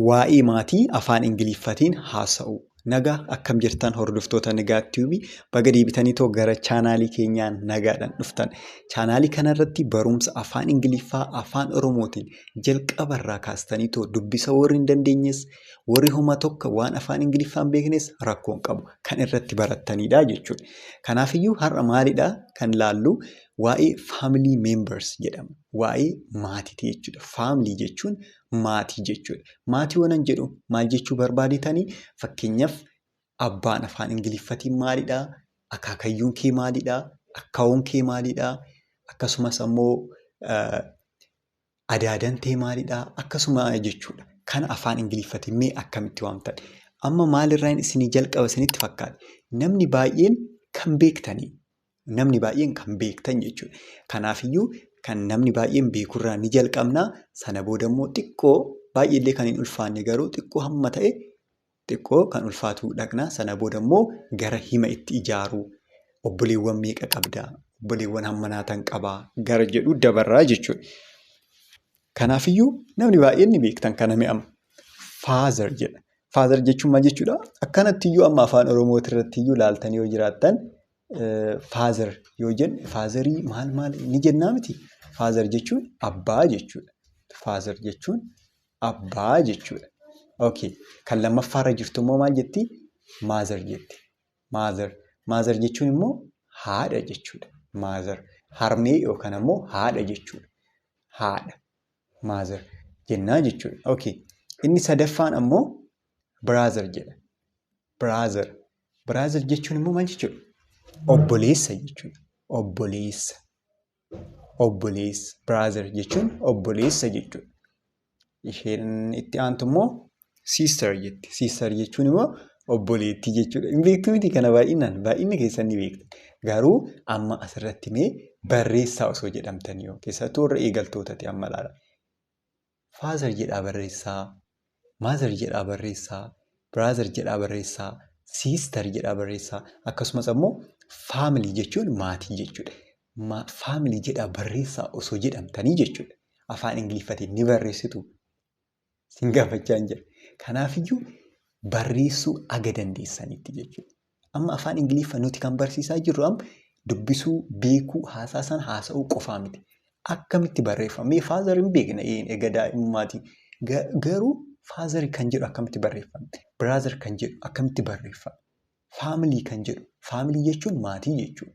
Waa'ee maatii afaan ingiliffatiin haasa'uu. Nagaa akkam jirtan hordoftoota Nagaa Tube baga deebitaniitoo gara chaanaalii keenyaa nagaadhaan dhuftan. Chaanaalii kanarratti barumsa afaan ingiliffaa afaan oromootiin jalqaba irraa kaastaniitoo dubbisa warri hin dandeenyes warri homa tokko waan afaan ingiliffaa hin beeknes rakkoo hin qabu kan irratti barattanidha jechuudha. Kanaafiyyuu har'a maalidha kan laallu waa'ee family members jedhama. waa'ee maatiti jechuudha. Family jechuun maatii jechuudha. Maatii wanan jedhu maal jechuu barbaaditani? Fakkeenyaaf abbaan afaan Ingiliffatiin maalidha? Akaakayyuun kee maalidha? Akkaawuun kee maalidha? Akkasumas ammoo adaadan tee maalidha? Akkasuma jechuudha. Kana afaan Ingiliffatiin mee akkamitti waamtan? Amma maalirraa isinii jalqaba isinitti fakkaate? Namni baay'een kan beektanii namni baay'een kan beektan jechuudha. Kanaafiyyuu kan namni baay'een beekurraa ni jalqabna. Sana booda immoo xiqqoo baay'eellee kan hin ulfaanne garuu xiqqoo hamma ta'e xiqqoo kan ulfaatuu dhaqna. Sana booda immoo gara hima itti ijaaruu obboleewwan meeqa qabda? Obboleewwan hammanaa tan qabaa? Gara jedhu dabarraa jechuudha. Kanaafiyyuu namni baay'een ni beektan kana mi'ama. Faazar jedha. Faazar jechuun maal jechuudha? Akkanattiyyuu amma afaan Oromootirrattiyyuu laaltanii yoo jiraattan Father yoo jenne faazarii maal maal ni jennaa miti. Father jechuun abbaa jechuudha. Father jechuun abbaa jechuudha. Okay. Kan lammaffaa irra jirtu immoo maal jetti? Mother jetti. Mother. Mother jechuun immoo haadha jechuudha. Mother. Harmee yookaan ammoo haadha jechuudha. Haadha. Mother jennaa jechuudha. Okay. Inni sadaffaan ammoo brother jedha. Brother. Brother jechuun immoo maal jechuudha? Obboleessa jechuudha. Obboleessa. Obboleessa. Brother jechuun obboleessa jechuudha. Isheen itti aantu immoo sister jetti. Sister jechuun immoo obboleettii jechuudha. Hin beektu miti kana baay'inaan. Baay'inni keessan ni beektu. Garuu amma asirratti mee barreessaa osoo jedhamtanii yoo keessattuu warra eegaltootati amma laala. Father jedhaa barreessaa. Mother jedhaa barreessaa. Brother jedhaa barreessaa. Sister jedhaa barreessaa. Akkasumas ammoo family jechuun maatii jechuudha. Ma family jedhaa barreessaa osoo jedhamtanii jechuudha. Afaan Ingiliffatiin ni barreessitu. Sin gaafachaan jira. Kanaafiyyuu barreessuu aga dandeessanitti jechuudha. Amma afaan Ingiliffa nuti kan barsiisaa jirru amma dubbisuu, beekuu, haasaa sana haasa'uu qofaa miti. Akkamitti barreeffama? Mee faazar hin beekna egaa daa'imummaati. Garuu faazar kan jedhu akkamitti barreeffama? Biraazar kan jedhu akkamitti barreeffama? Faamilii kan jedhu, faamilii jechuun maatii jechuudha.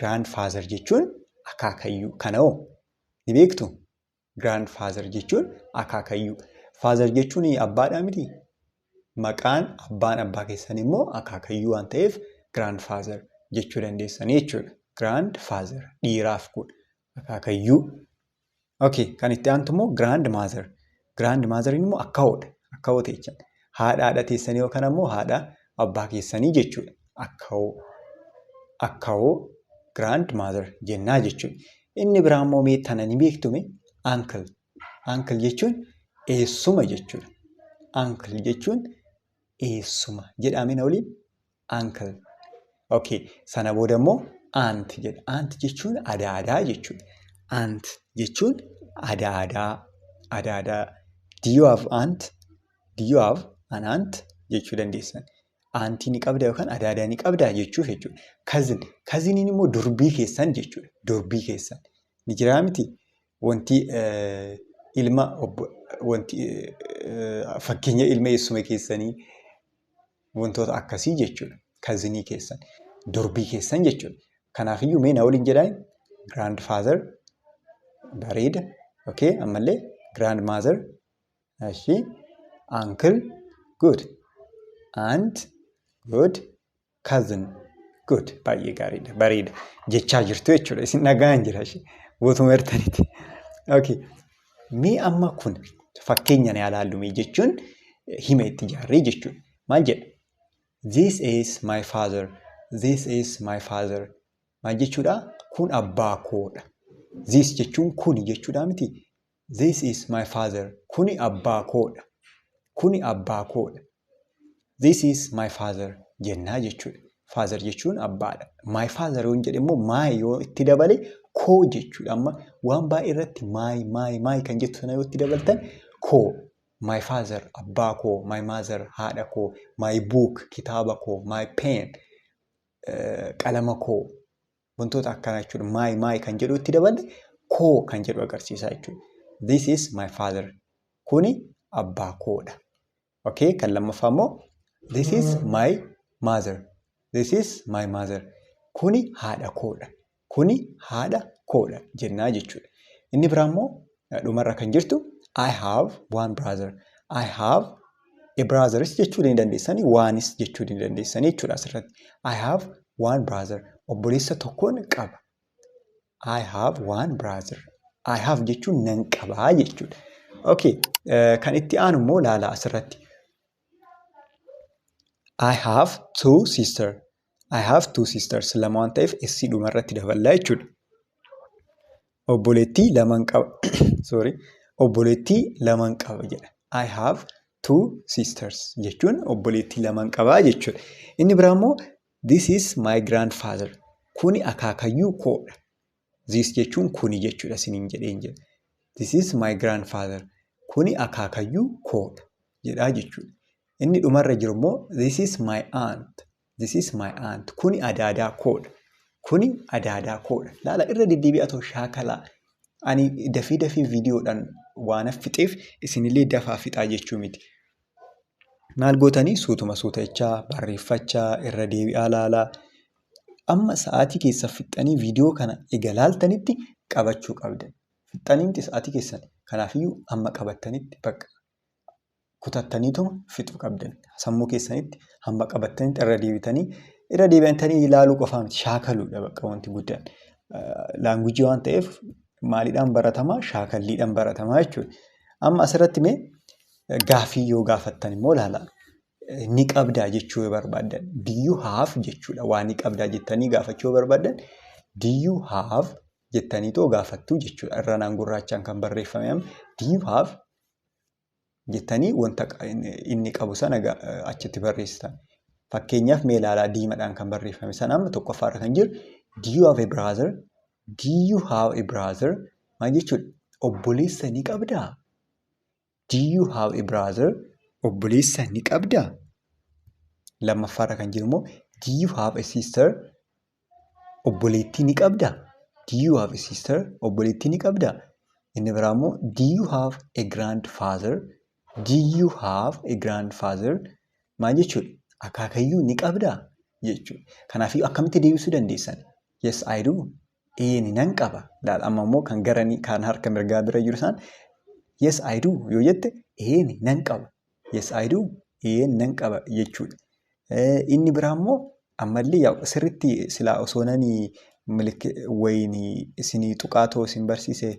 Grand father jechuun akaakayyuu. Kana hoo ni beektu? Grand father jechuun akaakayyuu. Father jechuun abbaadhaa miti? Maqaan abbaan abbaa keessan immoo akaakayyuu waan ta'eef grand father jechuu dandeessanii jechuudha. Grand father dhiiraaf kun. akaakayyuu ok kan itti aantu immoo grand mother grand mother immoo akkahoodha akkahoo teechan haadha haadha teessanii yookaan ammoo haadha abbaa keessanii jechuudha akkahoo akkahoo grand mother jennaa jechuudha inni biraa immoo mee tana ni beektume uncle uncle jechuun eessuma jechuudha uncle jechuun eessuma jedhaamina waliin uncle. Okay. Sana booda immoo aunt jedha. Aunt jechuun adaadaa jechuudha. Aunt jechuun adaadaa adaadaa. Do you have aunt? Do you have an aunt? jechuu dandeessan. Aantii ni qabda yookaan adaadaa ni qabda jechuuf jechuudha. Kazin. Kaziniin immoo durbii keessan jechuudha. Durbii keessan. Ni jiraa miti? Wanti eh, ilma obbo- wanti eh, fakkeenya ilma eessuma keessanii Wantoota akkasii jechuudha. Kazinii keessan, durbii keessan jechuudha. Kanaafiyyuu mee na waliin jedhaan grand father bareeda. Okay, ammallee grand mother ashi uncle good aunt good cousin good baay'ee gaariidha bareeda jechaa jirtu jechuudha. Isin dhagaan jira ishee guutuma ertanitti. Okay, Mee amma kun fakkeenyaan yaa laallu mee jechuun hima itti ijaarree jechuudha. Maal jedha? This is my father. This is my father. Maal jechuudha? Kun abbaa koodha. This jechuun kuni jechuudha miti. This is my father. Kuni abbaa koodha. Kuni abbaa koodha. This is my father jennaa jechuudha. Father jechuun abbaadha. My father yoon jedhe immoo my yoo itti dabale koo jechuudha. Amma waan baay'ee irratti my my my kan jettu sana yoo itti dabaltan koo my father abbaa koo my mother haadha koo my book kitaaba koo my pen qalama koo Wantoota akkanaa jechuudha. My, my kan jedhu itti daballe koo kan jedhu agarsiisa jechuudha. This is my father. Kuni abbaa koodha. Okay, kan lammaffaa immoo this is my mother. This is my mother. Kuni haadha koodha. Kuni haadha koodha jennaa jechuudha. Inni biraa immoo dhumarra kan jirtu I have one brother. I have a brothers jechuu ni dandeessanii waanis jechuu ni dandeessanii jechuudha asirratti. I have one brother. Obboleessa tokkoon qaba. I have one brother. I have jechuun nan qabaa jechuudha. Okay. eh, Kan itti aanu immoo laala asirratti. I have two sister. I have two sisters lama waan ta'eef S dhuma irratti daballaa jechuudha. Obboleettii laman qaba. Sorry. Obboleettii laman qaba jedha. I have two sisters jechuun obboleettii laman qabaa jechuudha. Inni biraa immoo this is my grandfather. Kuni akaakayyuu koodha. This jechuun kuni jechuudha sinin jedheen jedha. This is my grandfather. Kuni akaakayyuu koodha jedhaa jechuudha. Inni dhumarra jiru immoo this is my aunt. This is my aunt. Kuni adaadaa koodha. Kuni adaadaa koodha. Laala irra deddeebi'aa too shaakalaa. Ani dafii dafii viidiyoodhaan waan fixeef isinillee dafaa fixaa jechuu miti. Maal gootanii suutuma suuta jechaa barreeffachaa irra deebi'aa laalaa amma sa'aatii keessan fixxanii viidiyoo kana ega laaltanitti qabachuu qabdan. Fixxanii miti sa'aatii keessan kanaafiyyuu amma qabattanitti bakka kutattaniituma fixuu qabdan. Sammuu keessanitti hamma qabattanitti irra deebitanii irra deebitanii ilaaluu qofaa miti shaakaluudha bakka wanti guddaan. Laangujii waan ta'eef Maaliidhaan baratama? Shaakalliidhaan baratama jechuudha. Amma asirratti mee gaafii yoo gaafattan immoo ilaala. Ni qabdaa jechuu yoo barbaaddan. Do you have jechuudha. Waa ni qabdaa jettanii gaafachuu yoo barbaaddan. Do you have jettanii too gaafattuu jechuudha. Irranaan gurraachaan kan barreeffame amma. Do you have jettanii wanta inni qabu sana achitti barreessitan. Fakkeenyaaf mee ilaalaa diimadhaan kan barreeffame sana amma tokkoffaa irra kan jiru do you have a brother? Do you have a brother? Maal jechuudha? Obboleessa ni qabdaa? Do you have a brother? Obboleessa ni qabdaa? Lammaffaa irra kan jiru immoo do you have a sister? Obboleettii ni qabdaa? Do you have a sister? Obboleettii ni qabdaa? Inni biraa immoo Do you have a grandfather? Do you have a grandfather? Maal jechuudha? Akaakayyuu ni qabdaa? jechuudha. Kanaafiyyuu akkamitti deebisuu dandeessan? Yes, I do. Eeyyeen nan qaba. Laal amma immoo kan garanii kan harka mirgaa bira jiru isaan Yes, I do yoo jette eeyyeen nan qaba. Yes I do. Eeyyeen nan qaba jechuudha. Inni biraa immoo ammallee yaa sirritti silaa osoo nani milki wayin isinii tuqaa too isin barsiise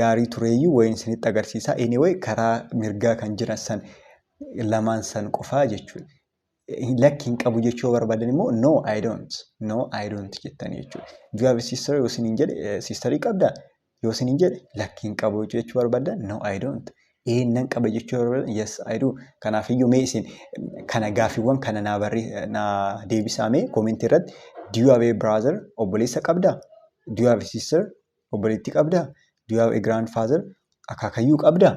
gaarii tureeyyuu wayin isinitti agarsiisaa anyway karaa mirgaa kan jiran san lamaan san qofaa jechuudha. lakki hin qabu jechuu barbaadan immoo no I don't no I don't jettanii jechuudha. Do you have a sister yoo isiniin jedhe sisterii qabda yoo isiniin jedhe lakki hin qabu jechuu barbaadan no I don't. Ee nan qaba jechuu barbaadan yes I do. Kanaaf iyyuu mee isin kana gaaffiiwwan kana naa barri naa deebisaa mee koomentii irratti do you have a brother obboleessa qabda do you have a sister obboleettii qabda do you have a grandfather akaakayyuu qabda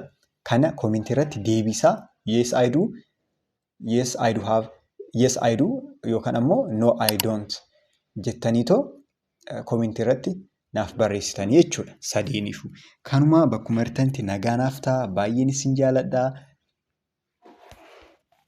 kana koomentii irratti deebisaa yes I do yes I do have yes I do yookaan ammoo no I don't jettaniitoo komintii irratti naaf barreessitan jechuudha sadeeniifu. Kanuma bakkuma jirtanitti nagaa naaf ta'a baay'een isin jaaladha.